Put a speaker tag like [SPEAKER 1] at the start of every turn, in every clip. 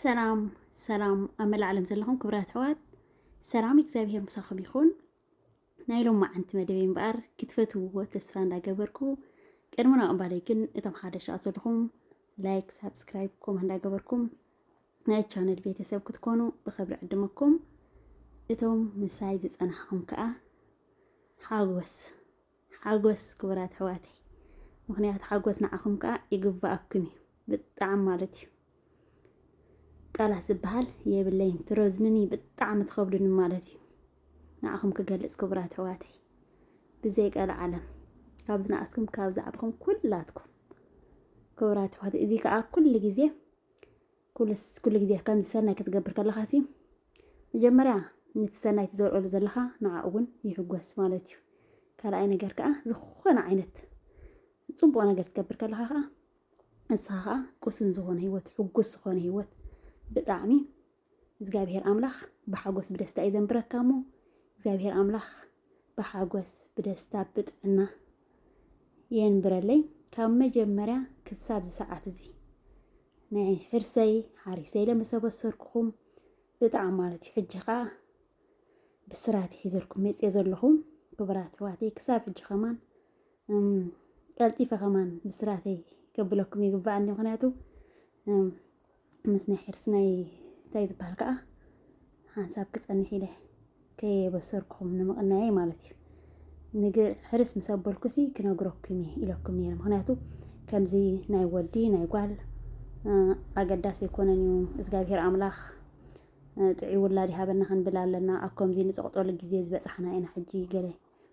[SPEAKER 1] ሰላም ሰላም ኣብ መላእ ዓለም ዘለኹም ክብራት ኣሕዋት ሰላም እግዚኣብሄር ምሳኹም ይኹን። ናይ ሎም መዓንቲ መደበይ እምበኣር ክትፈትውዎ ተስፋ እንዳገበርኩ ቅድሚ ናቕባለይ ግን እቶም ሓደ ሻ ዘለኹም ላይክ፣ ሳብስክራይብ፣ ኮም እንዳገበርኩም ናይ ቻነል ቤተሰብ ክትኮኑ ብክብሪ ዕድመኩም እቶም ምሳይ ዝፀናሕኹም ከዓ ሓጎስ ሓጎስ ክቡራት ኣሕዋተይ ምክንያቱ ሓጎስ ንዓኹም ከዓ ይግበኣኩም እዩ ብጣዕሚ ማለት እዩ ቃላት ዝበሃል የብለይን ትረዝኑኒ ብጣዕሚ ትኸብዱኒ ማለት እዩ ንዓኹም ክገልፅ ክቡራት ኣሕዋተይ ብዘይ ቀል ዓለም ካብ ዝነኣስኩም ካብ ዛዕብኹም ኩላትኩም ክቡራት ኣሕዋተይ እዚ ከዓ ኩሉ ግዜ ኩሉስ ኩሉ ግዜ ከምዚ ሰናይ ክትገብር ከለኻሲ መጀመርያ ነቲ ሰናይ ትዘርኦሉ ዘለኻ ንዓኡ እውን ይሕጎስ ማለት እዩ። ካልኣይ ነገር ከዓ ዝኾነ ዓይነት ፅቡቕ ነገር ትገብር ከለኻ ከዓ ንስኻ ከዓ ቅሱን ዝኾነ ህይወት ሕጉስ ዝኾነ ህይወት ብጣዕሚ እግዚኣብሄር ኣምላኽ ብሓጎስ ብደስታ እዩ ዘንብረካ እሞ እግዚኣብሄር ኣምላኽ ብሓጎስ ብደስታ ብጥዕና የንብረለይ ካብ መጀመርያ ክሳብ ዝሰዓት እዚ ናይ ሕርሰይ ሓሪሰይ ኢለ ምስ ኣበሰርኩኹም ብጣዕሚ ማለት እዩ ሕጂ ከዓ ብስራት ሒዘልኩም መፅየ ዘለኹም ክቡራት ኣሕዋተይ ክሳብ ሕጂ ከማን ቀልጢፈ ከማን ብስራተይ ከብለኩም ይግባእ ምክንያቱ ምስ ናይ ሕርሲ ናይ እንታይ ዝበሃል ከዓ ሓንሳብ ክፀንሕ ኢለ ከየበሰርኩም ንምቕናየይ ማለት እዩ ንግ ሕርስ ምስ ኣበልኩሲ ክነግረኩም እየ ኢለኩም ነይረ ምክንያቱ ከምዚ ናይ ወዲ ናይ ጓል ኣገዳሲ ኣይኮነን እዩ እግዚኣብሄር ኣምላኽ ጥዑይ ውላድ ይሃበና ክንብል ኣለና ኣብ ከምዚ ንፀቕጠሉ ግዜ ዝበፃሕና ኢና ሕጂ ገለ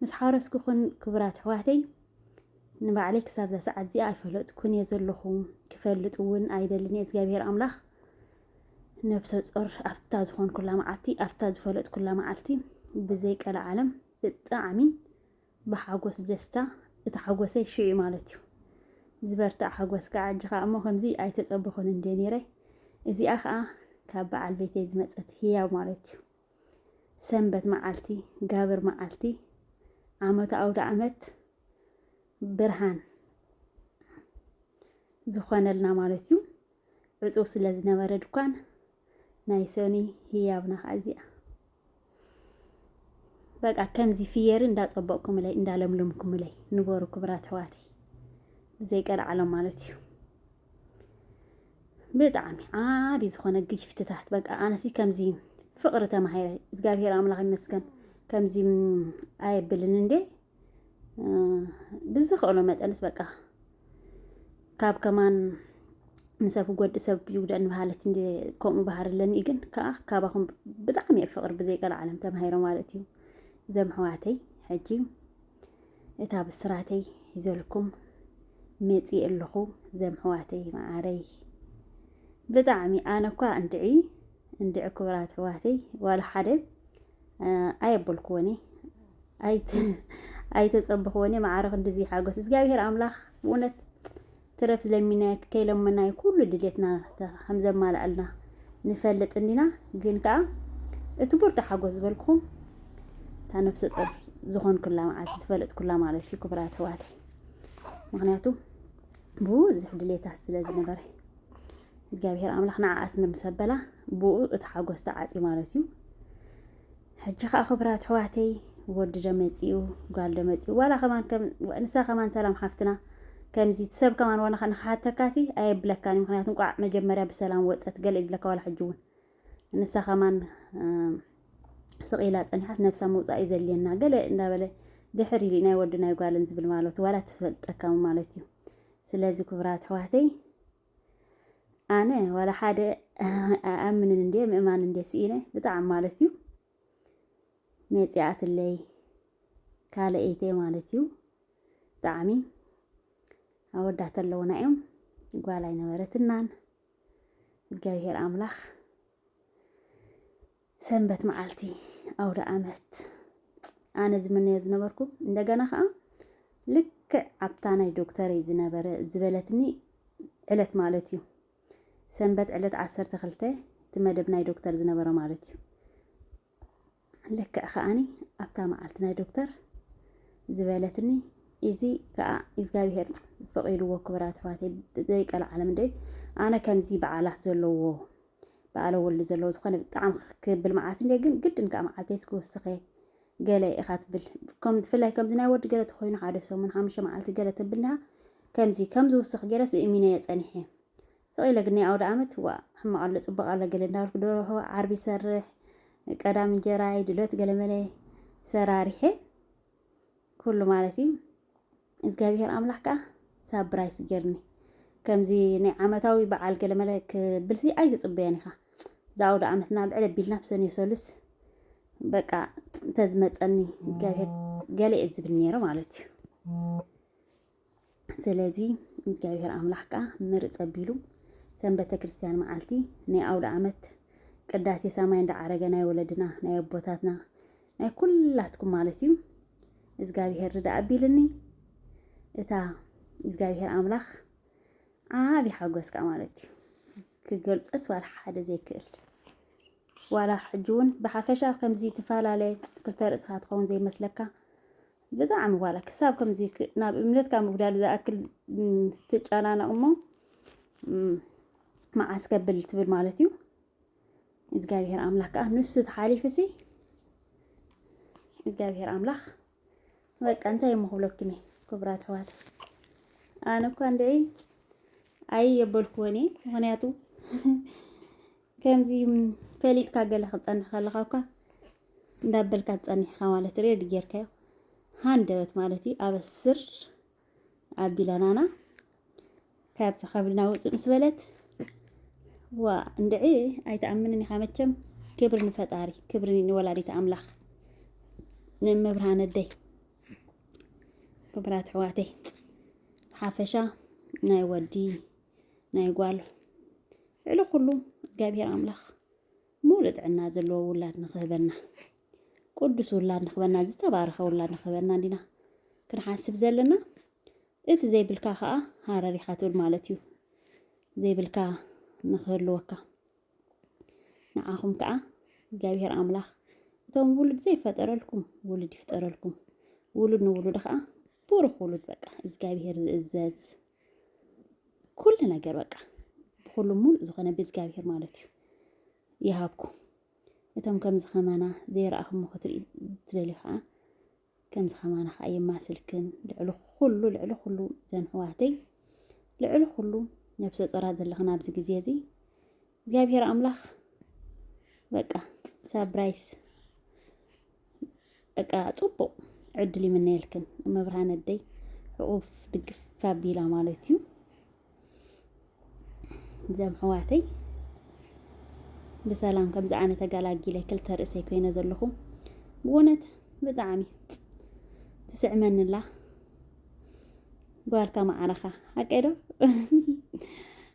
[SPEAKER 1] ምስ ሓረስኩ ኩን ክቡራት ኣሕዋተይ ንባዕለይ ክሳብ እዛ ሰዓት እዚኣ ኣይፈለጥኩን እየ ዘለኹ ክፈልጥ እውን ኣይደልን እየ እግዚኣብሄር ኣምላኽ ነብሰ ጾር ኣብታ ዝኾንኩላ መዓልቲ ኣብታ ዝፈለጥኩላ መዓልቲ ብዘይ ቀልዓለም ብጣዕሚ ብሓጎስ ብደስታ እቲ ሓጎሰይ ሽዑ ማለት እዩ ዝበርታዕ ሓጎስ ከዓ ኣጅኻ እሞ ከምዚ ኣይተፀበኹን እንደ ነይረ እዚኣ ከዓ ካብ በዓል ቤተይ ዝመፀት ህያብ ማለት እዩ ሰንበት መዓልቲ ጋብር መዓልቲ ዓመቱ ኣውደኣመት ብርሃን ዝኾነልና ማለት እዩ። ዕፁው ስለ ዝነበረ ድኳን ናይ ሰኒ ህያብና ከዓ እዚኣ በቃ ከምዚ ፍየሪ እንዳፀበቕኩምለይ እንዳለምለምኩምለይ ንበሩ ክብራት ኣሕዋተይ ብዘይቀልዓሎም ማለት እዩ። ብጣዕሚ ዓቢ ዝኾነ ግፍትታት በቃ ኣነሲ ከምዚ ፍቕሪ ተማሂረ እግዚኣብሔር ኣምላኽ ይመስገን ከምዚ ኣየብልን እንዴ ብዝኽእሎ መጠንስ በቃ ካብ ከማን ንሰብ ክጎዲ ሰብ ይጉዳእ ንባሃለት እንደ ከምኡ ባህር ኣለኒ ግን ከዓ ካባኹም ብጣዕሚ እየ ፍቕሪ ብዘይቀልዓለም ተማሂረ ማለት እዩ ዘምሕዋተይ ሕጂ እታ ብስራተይ ሒዘልኩም መፂእ ኣለኹ ዘምሕዋተይ መዓረይ ብጣዕሚ ኣነ እኳ እንድዒ እንድዒ ክብራት ኣሕዋተይ ዋላ ሓደ ኣየበልክዎኒ ኣይተፀበኽዎኒ መዓረ ክንድዚ ሓጎስ እግዚኣብሄር ኣምላኽ ብእውነት ትረፍ ለሚናዮ ከይለመናዮ ኩሉ ድሌትና ከምዘማልኣልና ንፈልጥ እንዲና ግን ከኣ እቲ ብርቱ ሓጎስ ዝበልኩኹም እታ ነፍሰ ጾር ዝኾንኩላ መዓልቲ ዝፈለጥኩላ ማለት እዩ ክብራት ኣሕዋተይ ምክንያቱ ብዙሕ ድሌታት ስለ ዝነበረ እግዚኣብሔር ኣምላኽ ንዓኣስ ምምሰበላ ብኡ እቲ ሓጎስ ተዓጽዩ ማለት እዩ ሕጂ ከኣ ክብራት ኣሕዋተይ ወዲ ዶ መጺኡ ጓል ዶ መጺኡ ዋላ ከማን ከም ንሳ ከማን ሰላም ሓፍትና ከምዚ እቲ ሰብ ከማን ዋላ ንክሓተካሲ ኣየብለካን እዩ ምክንያቱ እንቋዕ መጀመርያ ብሰላም ወጸት ገለ ይብለካ ዋላ ሕጂ እውን ንሳ ከማን ስቕ ኢላ ጸኒሓት ነብሳ ምውጻእ እዩ ዘድልየና ገለ እንዳበለ ድሕር ኢሉ ናይ ወዲ ናይ ጓልን ዝብል ማለቱ ዋላ ትፈልጠካ ማለት እዩ ስለዚ ክብራት ኣሕዋተይ ኣነ ዋላ ሓደ ኣይኣምንን እንዴ ምእማን እንዴ ስኢነ ብጣዕሚ ማለት እዩ መፂኣትለይ ካልአይተይ ማለት እዩ ብጣዕሚ ኣወዳት ኣለውና እዮም ጓል ኣይነበረትናን እግዚኣብሄር ኣምላኽ ሰንበት መዓልቲ ኣውደኣመት ኣነ ዝምነዮ ዝነበርኩ እንደገና ከዓ ልክዕ ኣብታ ናይ ዶክተረይ ዝነበረ ዝበለትኒ ዕለት ማለት እዩ ሰንበት ዕለት ዓሰርተ ክልተ እቲ መደብ ናይ ዶክተር ዝነበረ ማለት እዩ ልክዕ ከዓኒ ኣብታ መዓልቲ ናይ ዶክተር ዝበለትኒ እዚ ከዓ እግዚኣብሄር ፈቂድዎ ክብራት ኣሕዋተይ ዘይቀል ዓለም ደ ኣነ ከምዚ በዓላት ዘለዎ በኣለ ወሉ ዘለዎ ዝኾነ ብጣዕሚ ክብል መዓት እንዴ ግን ግድን ከኣ መዓልተይስ ክውስኸ ገለ ኢኻ ትብል ከም ፍላይ ከምዚ ናይ ወዲ ገለ ተኾይኑ ሓደ ሰሙን ሓሙሽተ መዓልቲ ገለ ተብልሃ ከምዚ ከምዚ ውስኽ ገለስ እሚነዮ ጸኒሐ ስቕ ኢለ ግን ናይ ኣውደ ኣመት ዋ ሕማቕ ኣሎ ጽቡቕ ኣሎ ገለ እንዳበልኩ ደርሆ ዓርቢ ይሰርሕ ቀዳም እንጀራይ ድሎት ገለመለ ሰራሪሐ ኩሉ ማለት እዩ እዝጋቢሄር ኣምላክ ከኣ ሳብራይስ ጌርኒ ከምዚ ናይ ዓመታዊ በዓል ገለመለ ክብልሲ ኣይትጽበዮን ኢካ እዛ ኣውደኣመት ናብ ልዕል ኣቢልና ብ ሰኑይ ሰሉስ በቃ ተዝመጸኒ እዝጋቢሄር ገለ እየ ዝብል ነይረ ማለት እዩ ስለዚ እግዚኣብሔር ኣምላኽ ከዓ ምርፅ ኣቢሉ ሰንበተ ክርስቲያን መዓልቲ ናይ ኣውደ ዓመት ቅዳሴ ሰማይ እንዳዓረገ ናይ ወለድና ናይ ኣቦታትና ናይ ኩላትኩም ማለት እዩ እግዚኣብሄር ርዳ ኣቢልኒ እታ እግዚኣብሄር ኣምላኽ ዓብዪ ሓጎስ ከዓ ማለት እዩ ክገልፀስ ዋላ ሓደ ዘይክእል ዋላ ሕጂ እውን ብሓፈሻ ከምዚ ትፈላለ ክልተ ርእስኻ ትኸውን ዘይመስለካ ብጣዕሚ ዋላ ክሳብ ከምዚ ናብ እምነትካ ምጉዳል ዝኣክል ትጨናነቕ እሞ መዓስ ከብል ትብል ማለት እዩ እግዚኣብሔር ኣምላክ ከዓ ንሱ ተሓሊፉ ሲ እግዚኣብሔር ኣምላክ በቃ እንታይ እሞ ክብለኩም እየ ክቡራት ኣሕዋት ኣነ እኳ እንድዒ ኣይ የበልክዎን እየ ምክንያቱ ከምዚ ፈሊጥካ ገለ ክፀንሕ ከለካ እኳ እንዳበልካ ትፀኒሕካ ማለት ሬድ ጌርካዮ ሃንደበት ማለት እዩ ኣበስር ኣቢላናና ካብቲ ከብልና ውፅእ ምስ በለት ዋ እንድዒ ኣይትኣምንን ኢኻ መቸም ክብሪ ንፈጣሪ ክብሪ ንወላዲት ኣምላኽ ንመብርሃን ኣደይ ክብራት ኣሕዋተይ ሓፈሻ ናይ ወዲ ናይ ጓል ልዕሊ ኩሉ እግዚኣብሔር ኣምላኽ ሙሉእ ጥዕና ዘለዎ ውላድ ንኽህበና ቅዱስ ውላድ ንክበና ዝተባረኸ ውላድ ንክበና እንዲና ክንሓስብ ዘለና እቲ ዘይብልካ ከዓ ሃረር ኢኻ ትብል ማለት እዩ ዘይብልካ ንክህልወካ ንዓኹም ከዓ እግዚኣብሔር ኣምላኽ እቶም ውሉድ ዘይፈጠረልኩም ውሉድ ይፍጠረልኩም ውሉድ ንውሉድ ከዓ ብሩኽ ውሉድ በቃ እግዚኣብሔር ዝእዘዝ ኩሉ ነገር በቃ ብኩሉ ሙሉእ ዝኾነ ብእግዚኣብሔር ማለት እዩ ይሃብኩም እቶም ከምዚ ከማና ዘይረኣኹሞ ክትሪኡ ትደልዩ ከኣ ከምዚ ከማና ከኣ የማስልክን ልዕሊ ኩሉ ልዕሊ ኩሉ ዘን ሕዋተይ ልዕሊ ኩሉ ነብሰ ጾራት ዘለኽን ኣብዚ ግዜ እዚ እግዚኣብሔር ኣምላኽ በቃ ሳብራይስ በቃ ጽቡቅ ዕድል ይምነየልክን መብርሃን ኣደይ ሕቁፍ ድግፍ ኣቢላ ማለት እዩ እዘም ሕዋተይ ብሰላም ከምዚ ኣነ ተገላጊለ ክልተ ርእሰይ ኮይነ ዘለኹ ብእውነት ብጣዕሚ ትስዕመንላ ጓልካ ማዕረኻ ኣቀዶ